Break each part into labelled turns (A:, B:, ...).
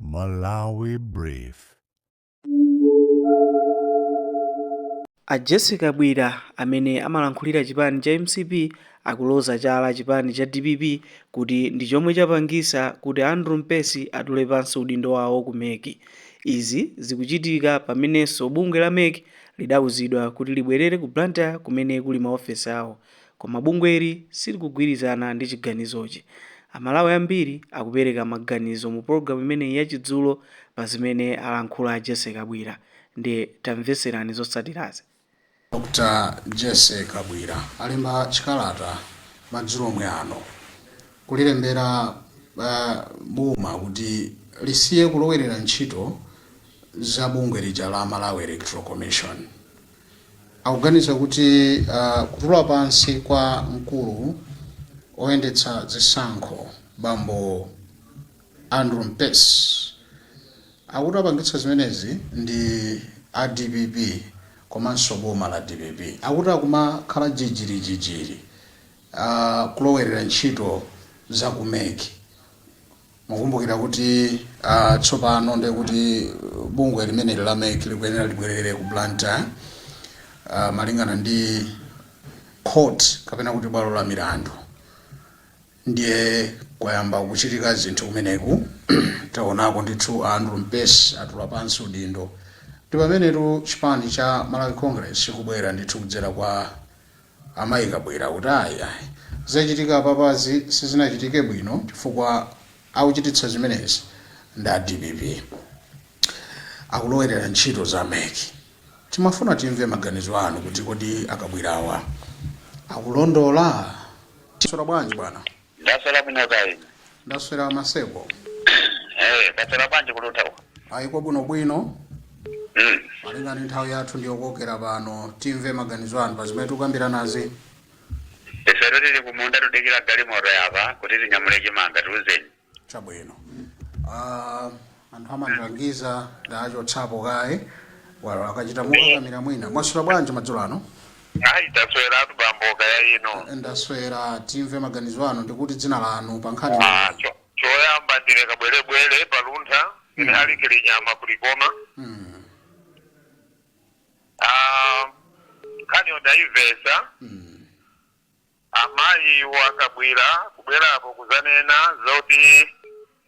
A: Malawi Brief.
B: A Jessie Kabwira amene amalankhulira chipani cha mcp akuloza chala chipani cha dpp kuti ndi chomwe chapangisa kuti Andrew Mpesi atule pansi udindo wawo ku mec. Izi zikuchitika pamenenso bungwe la mec lidauzidwa kuti libwerere ku Blantyre kumene kuli maofesi awo. Koma bungweli silikugwirizana ndi chiganizochi. Amalawi ambiri akupereka maganizo mu pologalamu imeneyi ya Chidzulo pa zimene alankhula a Jessy Kabwira nde tamvetserani zotsatirazi. Dr
C: Jessy Kabwira alemba chikalata madzulo omwe ano kulilembera boma kuti lisiye kulowelera ntchito za bungwe lija la Malawi Electoral Commission. akuganiza kuti kutula pansi kwa mkulu oyendetsa zisankho bambo Andrew Mpesi akuti apangitsa zimenezi ndi a dpp komanso boma la dpp akuti akumakhala jijirijijiri kulowerera ntchito za ku mec. Mukumbukira kuti a tsopano ndiye kuti bungwe limeneli la mec likuyenera libwerere ku Blantyre a malingana ndi court kapena kuti bwalo la milandu ndiye kwayamba kuchitika zinthu kumeneku taonako ndithu a Andrew Mpesi atula pansi udindo ndi pamenetu chipani cha Malawi Congress chikubwera ndithu kudzera kwa A Mayi Kabwira kuti ayi ayi zachitika apapazi sizinachitike bwino chifukwa akuchititsa zimenezi ndi a dpp akulowerera ntchito za mec. Timafuna timve maganizo anu kuti kodi a Kabwirawa akulondola? Mwaswera bwanji bwana? Ndaswera
D: bwino kaya inu. ndaswera a
C: Maseko
D: Eh, kwaswera bwanji kuluntha uko? ayi kuli bwinobwino
C: Mm. malingana ndi nthawi yathu ndiyokokera pano timve maganizo anu pa zimene
D: tikukambiranazi Ifetu tili kumunda tudikira galimoto apa kuti tinyamule chimanga tiuzeni. chabwino
C: Ah, Anthu amandilangiza ndachotsapo kaye wala akachita mokakamira mwina. Mwaswera bwanji madzulo ano? Ayi
D: tasweratu bambo kaya inu? Ndaswera, timve
C: maganizo anu ndikuti dzina lanu pa nkhani Ah, imeneyi. cho-
D: choyamba ndine kabwerebwere pa luntha ine alikili nyama kulikoma Mm, Ah, nkhaniyo ndayimvetsa mm, Amayi iwo a Kabwila kubwera apo kuzanena zoti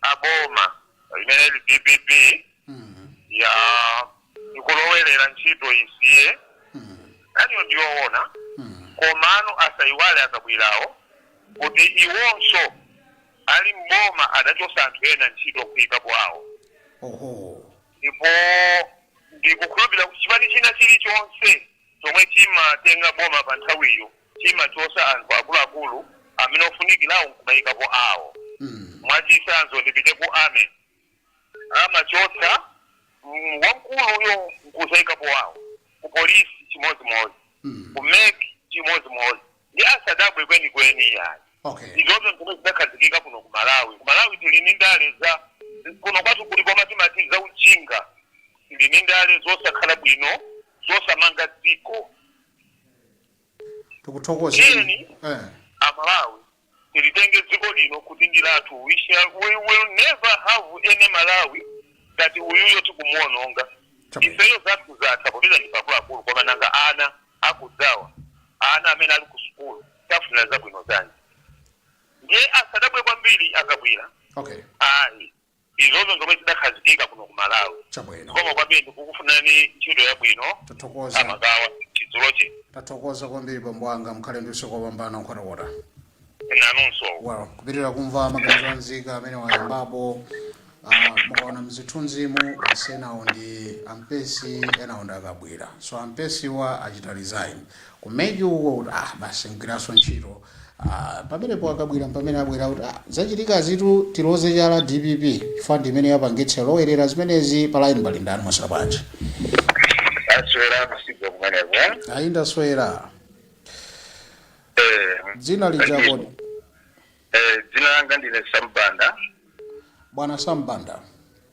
D: a boma imene ili dpp ya ikulowelera ntchito isiye nkhaniyo ndi yoona komano asayiwale a Kabwilawo kuti iwonso ali m'boma adachotsa anthu ena ntchito kuyikapo awo Oho. ndipo ndikukhulupirira kuti chipani china chilichonse chomwe chimatenga boma pa nthawiyo chimachotsa anthu akuluakulu amene ofunikirawo nkumayikapo awo mwachitsanzo ndipite ku army amachotsa mm, wamkuluyo nkuzaikapo wawo ku polisi chimodzimodzi ku mec chimodzimodzi ndi asadabwe kwenikweni yayi okay izozo zomwe zidakhazikika kuno ku malawi ku malawi tili ni ndale za kuno kwathu kuli koma timati za ujinga tili ni ndale zosakhala bwino zosamanga dziko
C: tikuthokozani Tiyeni.
D: eh. amalawi tilitenge dziko lino kuti ndi lathu we, shall, we will never have any malawi ngati uyuyo tikumuononga Chabwino. ifeyo zathu zatha popeza ndi pakuluakulu koma nanga ana akudzawa ana amene ali ku sukulu tafunira zabwino zanji ndiye asadabwe kwambiri a Kabwila okay ayi Izozo nzomwe zidakhazikika kuno ku Malawi. Chabwino. Zikomo kwambiri ndikukufunirani ntchito yabwino a Tathokoza.
C: Magawa chidzulo
D: chino. Tathokoza kwambiri
C: bambo wanga mkhale ndi usiku wopambana nkhotokota. Nanunso.
D: Well, kupitiriza
C: kumva maganizo a nzika amene wayambapo uh, mukaona mzithunzimu basi enawo ndi a Mpesi enawo ndi a Kabwila so a Mpesiwa achita resign ku mec uko kuti ah basi mgwiranso ntchito Aaa pamenepo a Kabwila mpamene abwera kuti aah zachitikazitu tiloze chala dpp chifukwa ndimene yapangitsa ilowelera zimenezi pa line pali ndani mwaswera bwanji
D: aswera kusiga kumeneko ayi
C: ndaswera Eh, dzina lija kodi
D: eh, dzina langa ndine sambanda bwana
C: sambanda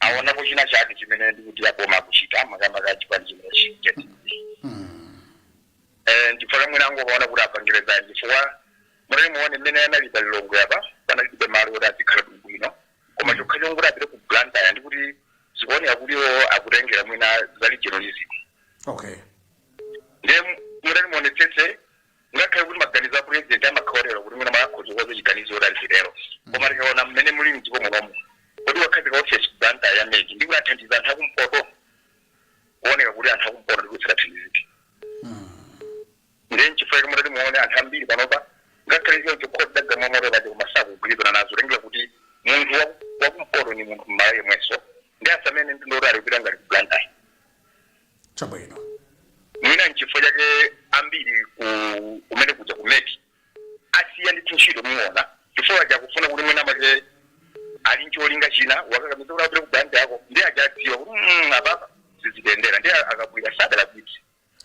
D: aonapo china chake chimene ndikuti aboma akuchita makamaka chipani chimenechi cha dpp Eh, chifukwa mwina angoona kuti apangire zani chifukwa mutati muone mmene anali pa lilongwe apa panalibe malo kuti azikhala bwinobwino koma chokha chonguti apite ku blantyre ndi kuti zikuoneka kuti iwo akutengera mwina za regionalism okay
C: ndiye
D: mutati muonetsetse ngakhale kuti maganizo a president amakhala otero kuti mwina mwakhoza kuwaza chiganizo kuti alitero koma tikaona mmene muli mdziko munomu kuti wakhazika office ku blantyre ya mec ndi kuti athandiza anthu akumpoto kuoneka kuti anthu akumpoto ndi kuti sathandizike ndiye nchifukwa mutati muone anthu ambiri panopa ngakhale icho chikhozi dagama moto paja koma sakugwirizana nazo tengera kuti munthu wa- wakumpoto ni munthu mmalawi yemwenso ndi asamene mtundu oti ali kupita ngati ku blantyre Chabwino. mwina nchifukwa chake ambiri ku kumene kuja ku mec asiya ndithu ntchito muwona chifukwa paja akufuna kuti mwina mwake ali ncholinga china wakakamiza kuti abwere ku Blantyre-ko ndiye aja adziwa kuti mm apapa sizitiyendera ndiye a Kabwila sadalakwitse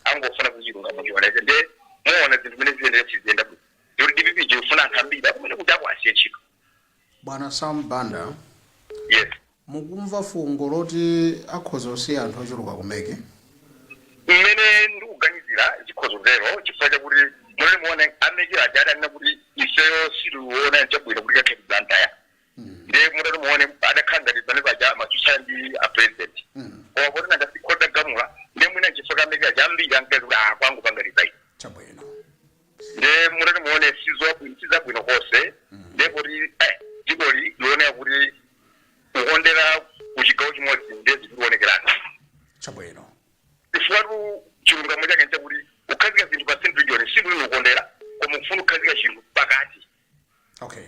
D: angofuna kuti chilungamo chioneke ndiye muona zinthu mmene ziyendere siziyenda bwino ndikuti dpp ija ikufuna anthu ambiri akumene kuja ako asiye ntchito
C: Bwana Sam Banda,
D: yes
C: mukumva fungo loti akhoza kusiya anthu ochuluka ku MEC? mmene
D: ndikuganizira zikhoza kutero chifukwa chakuti mutati muone a MEC aja adanena kuti ifeyo sitiona chabwino kuti tikakhale ku Blantyre ndiye mutati muone adakhala ngati pamene paja amatsutsana ndi a president Mm. koma poti nanga si khoti idagamula ndiye mwina nchifukwa a MEC aja ambiri ankati kuti akungopanga resign Chabwino. nde mutati muone sizabwino sizabwino konse nde kuti eh, dzikoli lioneka kuti kukondera kuchigawo chimodzi nde sizikuonekanso
C: zabwino
D: chifukwa chilungamo chake nchakuti ukhazika zinthu pa central region sikuli kukondera koma kufuna ukhazika chinthu pakati okay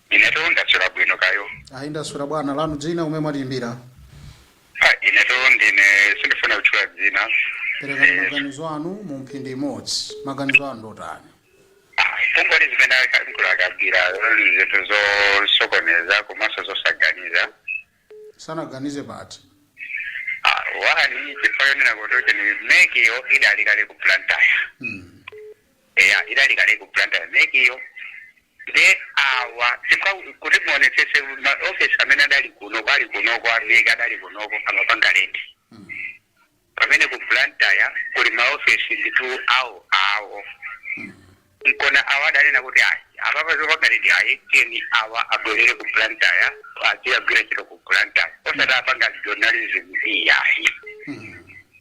D: inetu ndaswera bwino kaya ayi ndaswera bwana
C: lanu dzina kumene mwatiyimbira
D: Ah, inetu ndine sindifuna kutchula dzina perekani Eh, maganizo
C: anu mu mphindi imodzi maganizo anu ndotani ah, pa
D: zimene ayankhula a Kabwila ndi zinthu zosokoneza komanso
C: zosaganiza sanaganize pati
D: Ah, one chifukwa chonena kuti uti ni MEC-yo idali kale ku Blantyre Hmm. Eya idali kale ku Blantyre MEC-yo nde awa chifukwa kuti muonetsetse ma office amene adali kunoko ali kunoko a MEC adali kunoko amapanga lendi pamene ku Blantyre kuli ma office ndithu awo awo nkona awa adanena kuti ayi apapa zopanga lendi ayi tiyeni awa abwerere ku Blantyre azikagwira ntchito ku Blantyre osati apanga journalism iyayi.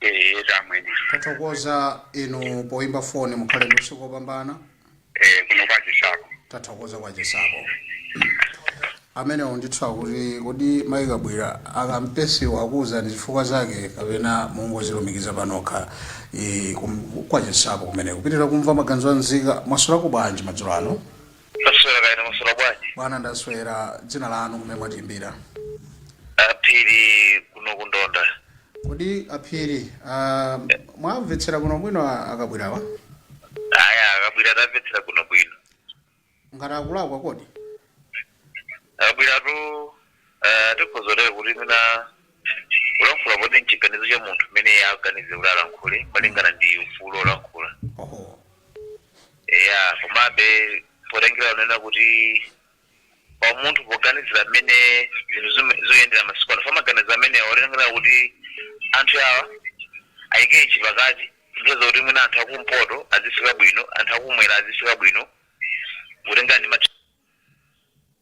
D: ehe tamva
C: tathokoza inu poimba foni mukhale ndi usiku wopambana eh kuno
D: kwa Chinsapo tathokoza kwa
C: Chinsapo amenewo ndithu akuti kodi mayi Kabwila a cabinet-wo akuwuzani zifukwa zake kapena mwangozilumikiza pa nokha eh, kum- kwa Chinsapo kumene kupitirira kumva maganizo a nzika mwaswerako bwanji madzulo ano Ndaswera
D: kaya mwaswera bwanji? Bwana
C: ndaswera dzina lanu kumene mwatiimbira. A
D: Phiri kuno kundonda. Kodi
C: a Phiri uh, mwamvetsera bwino bwino a- a Kabwila-wa Eya a Kabwila tawamvetsera
D: bwino bwino. ngati
C: akulakwa kodi? A Kabwila-tu
D: Eh, tikhoza kutero kuti mwina kulankhula poti nchiganizo cha munthu mmene iye aganize kuti alankhule malingana ndi ufulu olankhula oho eya komabe potengera kunena kuti pa munthu poganizira mmene zinthu zime- zikuyendera masiku ano pamaganizo amene otengera kuti anthu awa ayike chipakati ndizo kuti mwina anthu akumpoto azifika bwino anthu akumwera azifika bwino kutengera ndi matha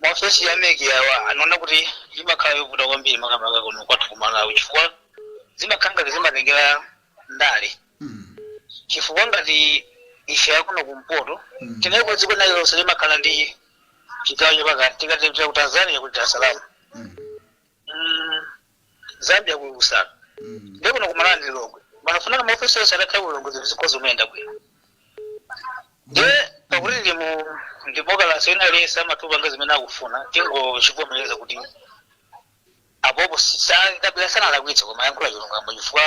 E: maofesi ya mec awa anaona kuti imakhala yovuta kwambiri makamaka kuno kwathu ku malawi chifukwa zimakhala ngati zimatengera ndale Mm. chifukwa ngati ife akuno kumpoto Mm. tinene kuti dziko lina lililonse limakhala ndi chigawo chapakati tikapita ku tanzania kuli dar es salaam Mm. mm, zambia kuli lusaka ndiye kuno kumalawi ndi lilongwe kumafunika maofesi onse atakhala kulilongwe zinthu zikhoza kumayenda bwino ndiye pakuti ndi mu demokalase ina aliyese amatha kupanga zimene akufuna tingochivomereza kuti apopo akabwira sanalakwitse koma ayankhula chilungamo chifukwa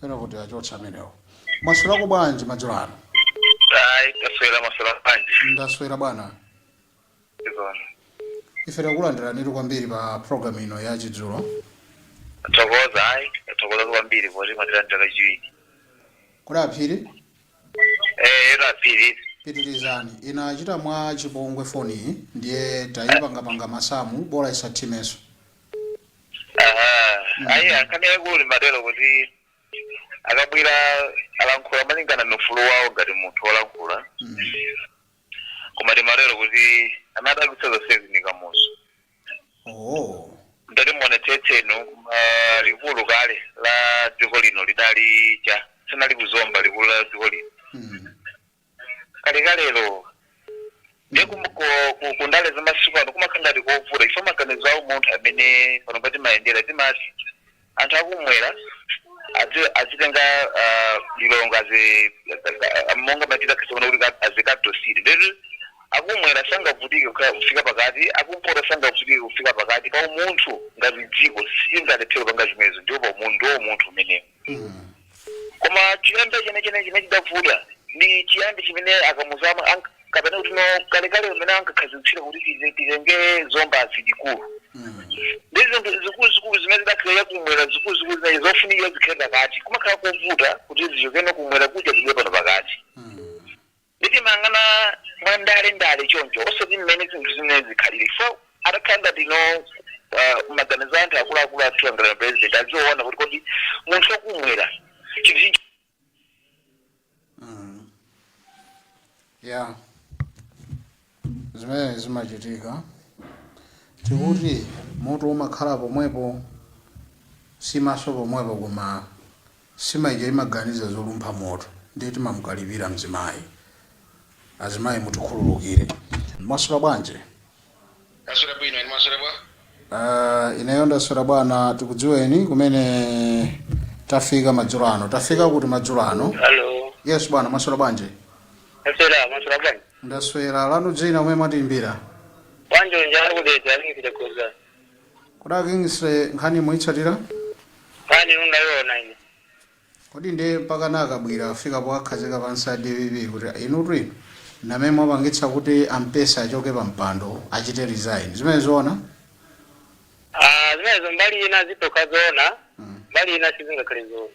C: Pena ku tiachotsa amenewo. Mwaswerako bwanji madzulo ano?
D: Ayi, taswera mwaswera bwanji. Ndaswera bwino.
C: Ndizona. Ife takulandiranitu kwambiri pa program ino ya chidzulo. Thokoza
D: ayi, thokoza kwambiri poti mwatilandira kachiwiri.
C: Kodi aphiri? Eh,
D: eya phiri. Pitirizani.
C: Inachita mwa chipongwe foni iyi ndiye tayipangapanga masamu bola isathimenso.
D: Aha, ayi nkhani yaikulu ndimatero kuti akabwira alankhula malingana ndi ufulu wawo ngati munthu wolankhula koma ndimatero kuti anadabwitsa zonsezi ndi kamuzu Oh. ngati muonetsetse inu ma- likulu kale la dziko lino lidali cha sinali kuzomba likulu la dziko lino kalekalelo ndiye ku, ku, ku, ku ndale zamasiku ano kumakhala ngati kovuta chifukwa maganizo awo munthu amene pano pa timayendera timati anthu akumwera adzi- adzitenga ah, lilongwe azi- ah, monga machita kasiyana kuti ka- azikadosiri ndiye kuti akumwera sangavutike kukhala- kufika pakati akumpoto sangavutike kufika pakati pa umunthu ngati dziko silingalephere kupanga zimenezo ndiwo pa umunthu ndiwo umunthu umenewo koma chiyambi chene chene chimene chidavuta ndi chiyambi chimene akamuzama ank- kapena kutinso kalekale mmene ankakhazikitsira kuti tize- titenge zomba likulu ndi zinthu zikuluzikulu zimene zidakhalira kumwera zikuluzikulu zinazi zofunikira zikhale pakati kumakhala kovuta kuti zichokenso kumwera kuja zibwere pano pakati Ndiye timayang'ana mwa ndale ndale choncho osati mmene zinthu zimene zikhalire chifukwa atakhala ngati no uh, maganizo a anthu akuluakulu athu ngati a president aziona kuti kodi munthu wakumwera chinthu chanji
C: Mm. Yeah. zimene zimachitika tikuti moto umakhala pomwepo simaso pomwepo koma simai ija imaganiza zolumpha moto ndiye timamukalipira mzimayi azimayi mutikhululukire mwaswera bwanji
E: Ndaswera bwino kaya mwaswera bwa. uh, ineyo
C: ndaswera bwana tikudziweni kumene tafika madzulo ano tafika kuti madzulo ano Hello. yes
E: bwana mwaswera
C: bwanji Ndaswera
E: mwaswera bwa. Ndaswera,
C: lanu dzina kumene mwatiimbira? Kwa
E: Njonja kuno ku Dedza Kingsley Khoza. Kodi
C: a Kingsley nkhani muitsatira?
E: Nkhaniyi ndaiona ine. Kodi ndiye
C: mpakana a Kabwira afika powakhazika pansi a dpp kuti inutu inu ndamene mwapangitsa kuti a Mpesi achoke pa mpando achite resign zimenezo zoona? Aaa zimenezo
E: mbali ina zitokha zoona mbali ina sizingakhale zoona.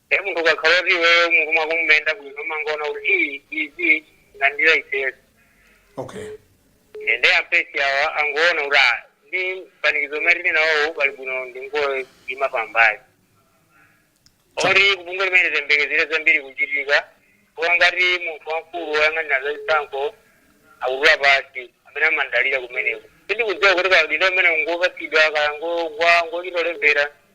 E: e munthu ukakhala kuti iweyo munthu sukumayenda bwino umangoona kuti ii izi ngandira
C: iseyo okay
E: ndiye a Mpesi awa angoona kuti ah, ndi mpanikizo umene tili nawowu kuli bwino ndingoima pambali olo kubungwe limene liziyembekezera zambiri kuchitika kuti ngati munthu wamkulu woyang'anira za chisankho akutula pansi amene amandalira kumeneko sindikudziwa kuti kaudindo umene angopatsidwa kaya ngo- ngwa- ngochita olembera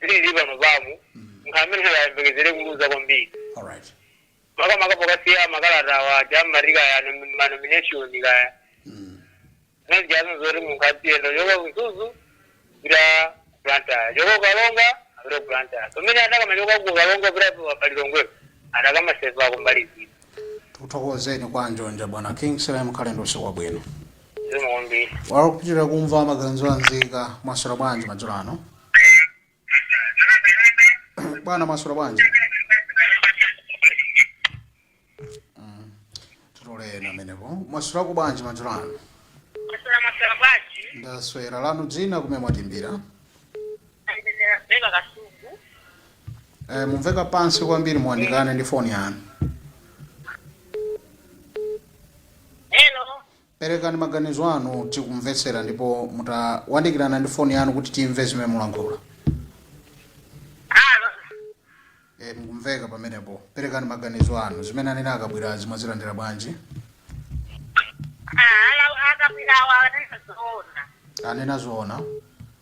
E: zilili panopamu munthu ameneyo ayembekezere kuluza kwambiri All
C: right.
E: makamaka pokasiya makalata awa aja amatika ya nom- manomination kaya Mm. nzijazo zoti munthu aziyenda choka ku Mzuzu pita Blantyre choka ku Karonga apita Blantyre pamene adakamachoka ku Karonga pita pa Lilongwepo adakamasevapo mbali zina
C: tikuthokozeni kwa Njonja bwana Kingsley mukhale ndi usiku wabwino
E: zikomo kwambiri kupitilira
C: kumva maganizo a nzika mwaswera bwanji madzulo ano bwana mwaswera bwanji Mm, tiloleni amenepo mwaswerako bwanji madzulo ano mwaswera mwaswera
E: bwanji ndaswera lanu
C: dzina kumene mwatiimbira andendera
E: beka Kasungu
C: Eh, mumveka pansi kwambiri muyandikane ndi foni
E: yanu Hello. perekani
C: maganizo anu tikumvetsera ndipo mutayandikirana ndi foni yanu kuti timve zimene mulankhula Alo. eh, mukumveka pamenepo perekani maganizo anu zimene anene a Kabwirazi mwazilandira bwanji Ah, ala
E: a Kabwira awa anena zoona. anena zoona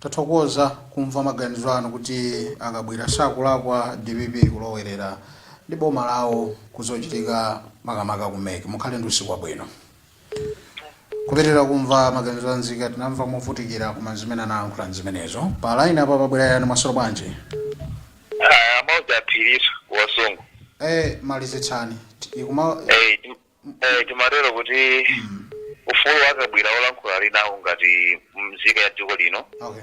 C: tathokoza kumva maganizo anu kuti a Kabwira sakulakwa dpp kulowerera ndi boma lawo kuzochitika makamaka ku MEC mukhale ndi usiku wabwino kupitilira kumva maganizo anzika tinamva movutikira koma zimene anayankhula nzimenezo pa laini apa pabwera ndani mwaswera
D: bwanji amodzi a Phiri ku Kasungu eh malizitsani
C: T- ikuma eh, Eh,
D: Eh, timatero kuti mm. ufulu wa Kabwila wolankhula ali nawo ngati mzika ya dziko lino
C: okay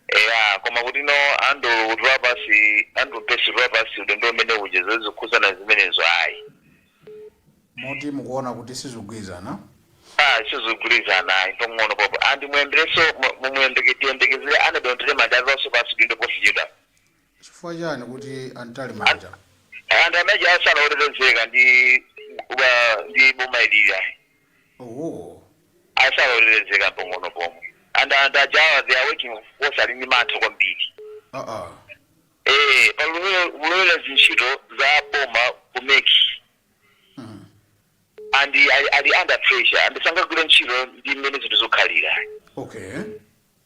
C: eya
D: koma kuti no Andrew kutula pasi Andrew Mpesi kutula pasi udindo umene uje zozikhudzana zimenezo
C: ayi moti mukuona kuti sizigwirizana
D: Ah, sizigwirizana ayi pang'ono popo and muyemberenso mumuyembekezere Annabel Mtalimanja atulanso pasi udindo posachedwa
C: Chifukwa chani kuti a Mtalimanja. Anthu
D: amene aja sali otetezeka ndi bwa ndi boma ili ayi. Ooo. Ayi sali otetezeka mpong'ono pomwe and anthu ajawa they are working of course ali ndi mantha kwambiri. Aaa. Eee pali kulowera zintchito za boma ku MEC Mhm. and ali ali under pressure and sangagwire ntchito ndi mmene zinthu zikukhalira. Okay.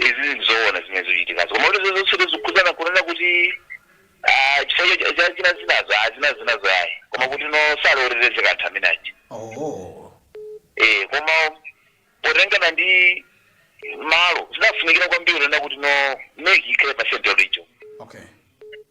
D: izizi ndizoona zimene zikuchitikazi koma kuti zizo zoti zikukhudzana kunena kuti ah, chifukwa cha- cha china zinazo ah, zina zinazo ayi koma kuti no sali otetezeka anthu amene aja oh eh koma potengana ndi malo zinafunikira kwambiri kunena kuti no MEC ikhale pa central region okay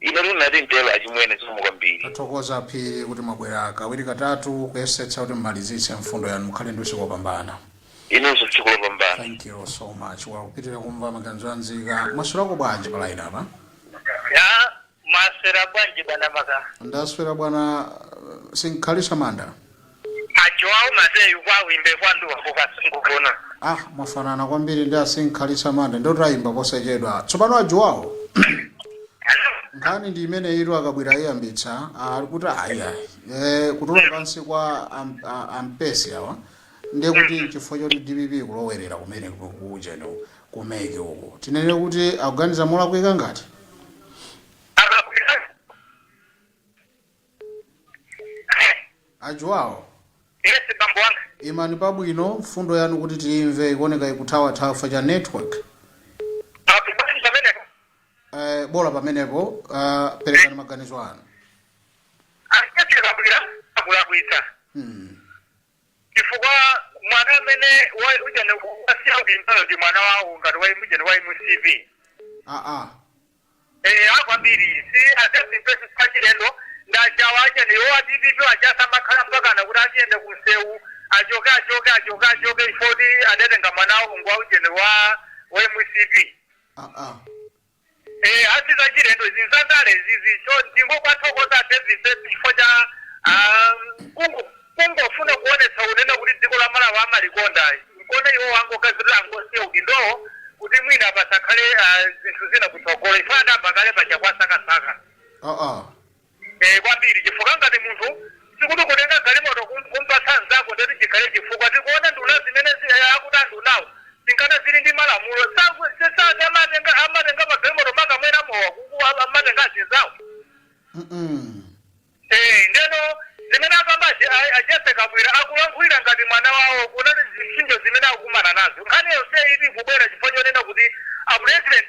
D: Ine ndinati, nditero achimwene, zikomo kwambiri. Tathokoza a Phiri
C: kuti mwabwera kawiri katatu kuyesetsa kuti mumalizitse mfundo yanu. Mukhale ndi usiku wopambana. Inunso tsiku
D: lopambana. Thank you so
C: much. Tikupitilira kumva maganizo a nzika. Mwaswerako bwanji pa line apa?
E: Ya, mwaswera bwanji bwana maka. Ndaswera bwana
C: uh, sinkhalisa manda. A
E: João Mateyu kwa Wimbe kwa Nduwa ku Kasungu kuno. Ah,
C: mwafanana kwambiri ndi asinkhalitsa manda ndi oti ayimba posachedwa. Tsopano a João nkhani ndi imeneyitu a Kabwila ayiyambitsa ali kuti aya e, kutula pansi kwa am- a- a Mpesi awa ndiye kuti nchifukwa choti dpp kulowerera kumene ku- ku ujeni uku, ku MEC uku tinene kuti akuganiza molakwika ngati a João yes
E: bambo wanga imani
C: pabwino mfundo yanu kuti tiimve ikuoneka ikuthawathawa chifukwa cha network anthu bwanji pamenepo eh, bola pamenepo uh, perekani maganizo anu a Jessie Kabwila
E: akulakwitsa hmm. chifukwa mwana amene wa- ujeni wasiya udindoyo ndi mwana wawo ngati wa ujeni wa mcp aa Eh, akwambiri si a David Mpesi pachilendo ndajawa ajeni iwo a dpp aja amakhala mpakana kuti atiyende kumsewu achoke achoke achoke achoke chifoti adatenga mwana wawo ngwa ujene wa wa mcp aa Eee si zachilendo izi nzandale izizi so ndingowathokoza a David Mpesi chifukwa cha ah, kungo- kungofuna kuonetsa kunena kuti dziko la Malawi amalikonda nkuona iwo angoganizira angosiya udindowo kuti mwina pasakhale ah, zinthu zina kutsogolo chifukwa adayamba kale paja kuwasakasaka aa Eee kwambiri chifukwa ngati munthu sikuti kutenga galimoto kumpatsa nzako ndeti chikhale chifukwa tikuona nduna zimenezi eya akuti andunawo zinkana zili ndi malamulo sati amatenga amatenga magalimoto makamwera mowa kuku amatenga azinzawo eeh ndeno zimene akamba a Jessie Kabwila akulankhulira ngati mwana wawo kunali zipsinjo zimene akukumana nazo nkhani yonseyi ikubwera chifukwa chonena kuti a president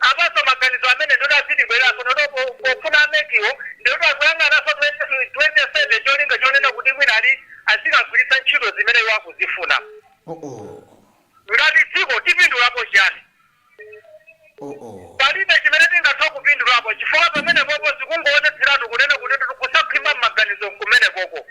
E: apaso maganizo amene ndoti azitibweraso noto po- pofuna a mec-wo ndikuti akuyang'anaso 20 27 cholinga chonena kuti mwina ali azikagwiritsa ntchito zimene iwo akuzifuna oh, oh, ngati dziko tipindulapo chiyani oh, oh. palibe chimene tingatha kupindulapo chifukwa pamenepopo zikungoonetseratu kunena kuti ndi kusakhwima m'maganizo kumenekoko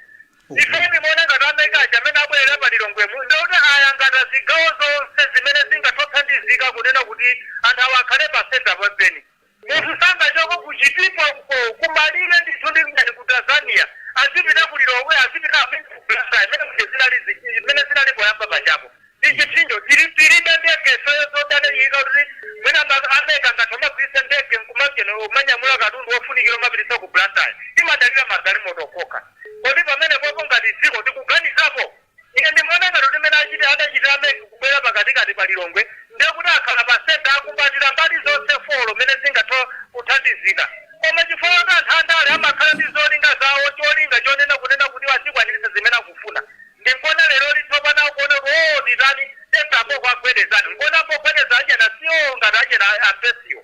E: Ife timaona ngati a mec aja amene abwerera pa Lilongwemu nde kuti ayangata zigawo zonse zimene zingathe kuthandizika kunena kuti anthu awa akhale pa centre penipeni. Munthu sangachoke ku Chitipa uko ku malire ndithu ndi ngati ku Tanzania azipita ku Lilongwe azipita Blantyre mmene muja zinali zimene zinali poyamba pajapo. ndi chipsinjo. Tili tilibe ndege ifeyo zodalirika kuti mwina a mec angathe kumagwiritsa ndege nkumayenda kumanyamula katundu wofunikira kumapititsa ku Blantyre. Timadalira magalimoto kokha. Kodi pamenepopo ngati dziko tikuganizapo? Ine ndimaona ngati kuti mmene achitira adachitira mec kubwera pakatikati pa Lilongwe ndiye kuti akhala pa centre akumbatira mbali zonse folo mmene zingathe kuthandizika. Koma chifukwa choti anthu andale amakhala ndi zolinga zawo cholinga chonena kunena kuti azikwaniritsa zimene akufuna. Ndikuona leroli tsopano akuona kuti oo nditani test agogo agwedezani ndikuona angogwedeza adyera sioo ngati adyera a- a fesiwo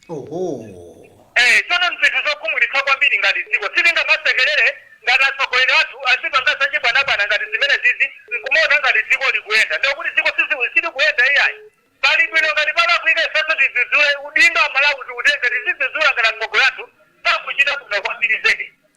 E: oho Eh, tsono nzinthu zokhumudwitsa kwambiri ngati dziko sitingamasekerere ngati atsogoleri athu azipanga zachibwanabwana ngati zimenezizi nkumaona ngati dziko likuyenda ndiye kuti dziko sizi- silikuyenda iyayi pali bwino ngati palakwika ifenso tizidzudzule udindo wa malawi tiutenge tizidzudzula ngati atsogoleri athu sakuchita bwino kwambiri zedi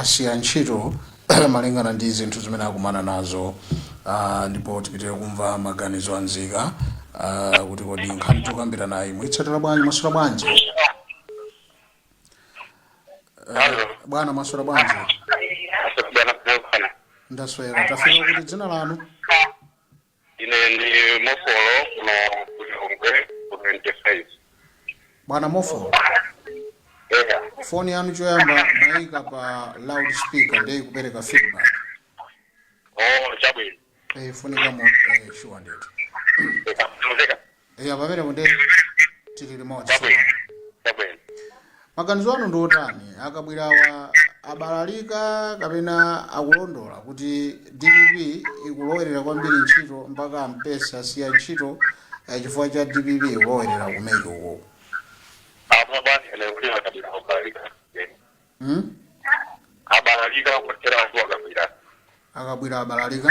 C: asiya ntchito malingana ndi zinthu zimene akumana nazo uh, ndipo tipitire kumva maganizo a nzika uh, kuti kodi nkhani tikukambiranayi muitsatira bwanji mwaswera bwanji uh, bwana mwaswera bwanji ndaswera tafika kuti dzina lanu
D: Ine ndi Mofolo kuno ku Lilongwe ku 25. Bwana
C: Mofolo, Eya. foni yanu choyamba mwayika pa loudspeaker ndiye ikupereka feedback. Oh,
D: chabwino. Eh,
C: foni kamo eh, sure ndithu. Eya, tumveka. eya pamenepo nde tili limodzi chabwino
D: tsopano chabwino
C: maganizo anu ndi otani akabwirawa abalalika kapena akulondola kuti dpp ikulowerera kwambiri ntchito mpaka ampesi asiya ntchito eh, chifukwa cha dpp ikulowerera ku MEC uko apo basi anakuti akabwira
D: abalalika hmm? abalalika kotera anthu akabira akabwira
C: abalalika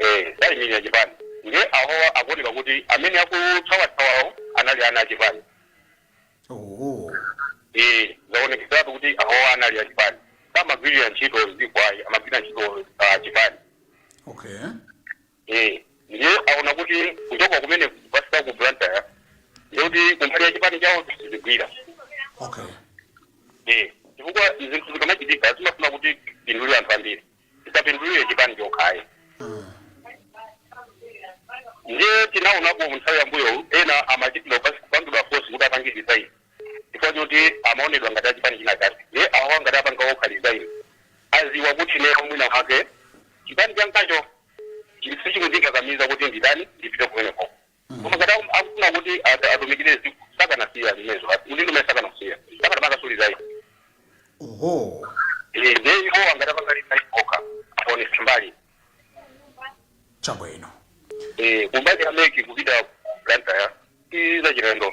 D: ee saimirira chipani ndiye awawa akuoneka kuti amene akuthawathawawo anali ana achipani oh. ee zaonetseratu kuti awawa anali achipani samagwirira ntchito dziko ayi amagwirira ntchito ah, chipani okay ee ndiye aona kuti kuchoka kumene kupita ku blantyre ndiye kuti kumbali ya chipani chawo sizigwira okay ee chifukwa zinthu zikamachitika zimafuna kuti zipindulire anthu ambiri zisapindulire chipani chokha ayi ndiye tinaonapo mu nthawi yambuyo ena amachitira upa- kupangidwa fosi kuti apange resign chifukwa choti amaonedwa ngati achipani china chake ndiye awa ngati apanga okha resign adziwa kuti lero mwina mwake chipani changacho sichikundikakamiza kuti ndigane ndipite kumeneko Koma ngati aku- akufuna kuti at- atumikire dziko sakanasiya zimenezo basi. Udindo umene sakanasiya. Sakanapanga resign. oho Eh, ndiye iwo ngati apanga resign okha. Aonesa mbali.
C: chabwino Eh,
D: kumbali ya MEC kupita ku Blantyre. Si zachilendo.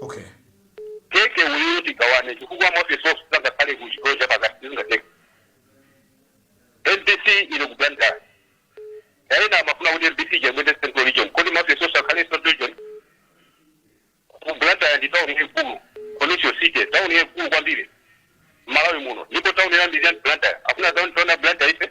D: okay keke uyu tigawane chifukwa maofesi onse sangakhale ku chigawo cha pakati sizingatheke mbc ili ku blantyre ya ena amafuna kuti mbc ibwerenso central region kodi maofesi onse akhale central region ku blantyre ndi tauni yaikulu commercial city tauni yaikulu kwambiri m'malawi muno ndipo tauni ya mbiri ya blantyre afuna tauni tauni ya blantyre ife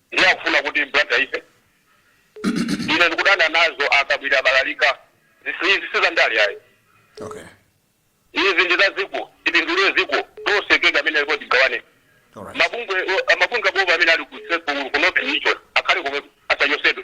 D: Ndiye akufuna kuti Blantyre ife ine ndikudana nazo akabwira abalalika Zisi- izi sizandale ayi Okay. izi ndi za dziko tipindulire dziko tonse keke amene alipo tigawane All
C: right. mabungwe o- mabungwe
D: aboma amene ali ku- ku- ku northern region akhale komweko asachotsedwe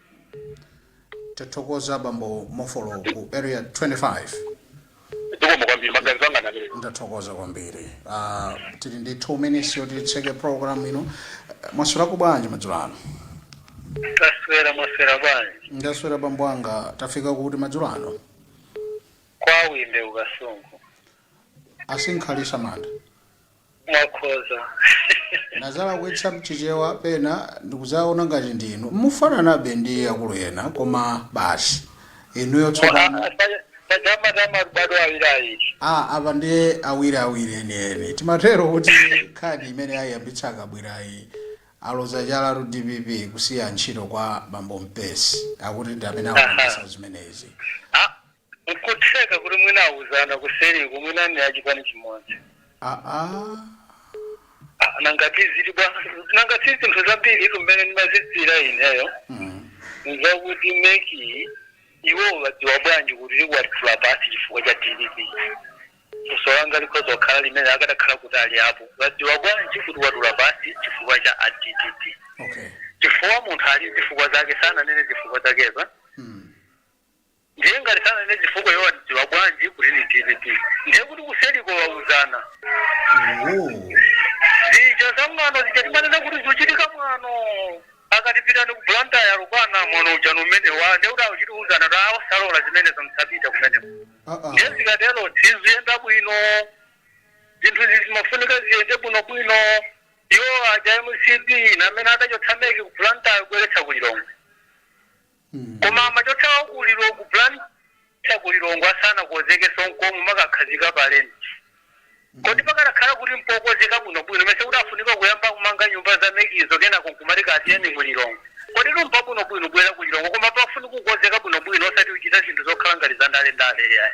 C: Tathokoza bambo Mofolo ku Area 25.
D: zikomo kwambiri maganizo anga nda amenewo Ndathokoza kwambiri.
C: Ah, tili ndi 2 minutes yoti titseke program ino. Eh, Mwaswerako bwanji madzulo ano? taswera
E: mwaswera bwanji Ndaswera bambo
C: anga tafika kuti madzulo ano.
E: kwa Wimbe ku
C: Kasungu Asinkhalisa manda. mwakhoza. Ndadzalakwitsa m'Chichewa pena ndikudzaona ngati ndi inu. Mufananabe ndi akulu ena, koma basi. Inuyo tsopano. Ah, pa- paja amati
E: amabadwa awiri awiri. Ah, apa
C: ndiye awiri awiri enieni. Timatero kuti nkhani imene ayiyambitsa a Kabwirayi aloza chalatu dpp kusiya ntchito kwa bambo Mpesi akuti ndi amene akuyambitsa zimenezi Ah,
E: Nkutheka kuti mwina auzana kuseriku mwina ndi achipani chimodzi. Aaa. Ah, nanga tiziti bwanji nanga si zinthu zambiri zimene ndimadziwira ineyo nzakuti meki iwo wadziwa bwanji kuti watula pansi chifukwa cha dpp funso langa likhoza kukhala limenelo akadakhala kuti ali apo wadziwa bwanji kuti watula pansi chifukwa cha a dpp Okay. chifukwa munthu ali ndi zifukwa zake sananene zifukwa zakezo Ndiye ngati sananene zifukwa iwo adziwa bwanji kuti ndi dpp? Ndiye kuti kuseriko wauzana. Zija za mwano zija timanena kuti zikuchitika mwano. Akati pitani ku Blantyre akukana mwano uja ndi umenewo ndiye kuti akuchita kuuzana kuti awo asalola zimenezo msapite kumeneko. Ndiye zikatero ziziyenda bwino. Zinthu zimafunika ziyende bwino bwino. Iwo aja MCP ndi amene adachotsa meki ku Blantyre kubweretsa ku Lilongwe. Koma amachotsa ku Lilongwe ku Blantyre ku Lilongwe asanakonzekenso nkomwe kumakakhazika pa rent. Kodi pakadakhala kuti mpokonzeka bwinobwino mesa kudafunika kuyamba kumanga nyumba za mekizo kenako nkumati kazitiyeni ku Lilongwe? Koditu mpabwinobwino kubwera ku Lilongwe koma pafunika kukonzeka bwinobwino osati kuchita zinthu zokhala ngati zandalendale iyayi.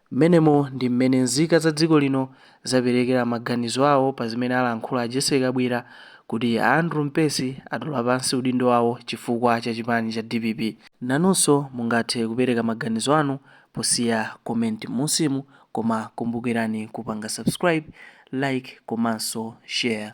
B: Mmenemo ndi mmene nzika za dziko lino zaperekera maganizo awo pa zimene alankhula a Jessie Kabwira kuti a Andrew Mpesi atula pansi udindo wawo chifukwa cha chipani cha dpp. Nanunso mungathe kupereka maganizo anu posiya comment mmunsimu koma kumbukirani kupanga subscribe, like komanso share.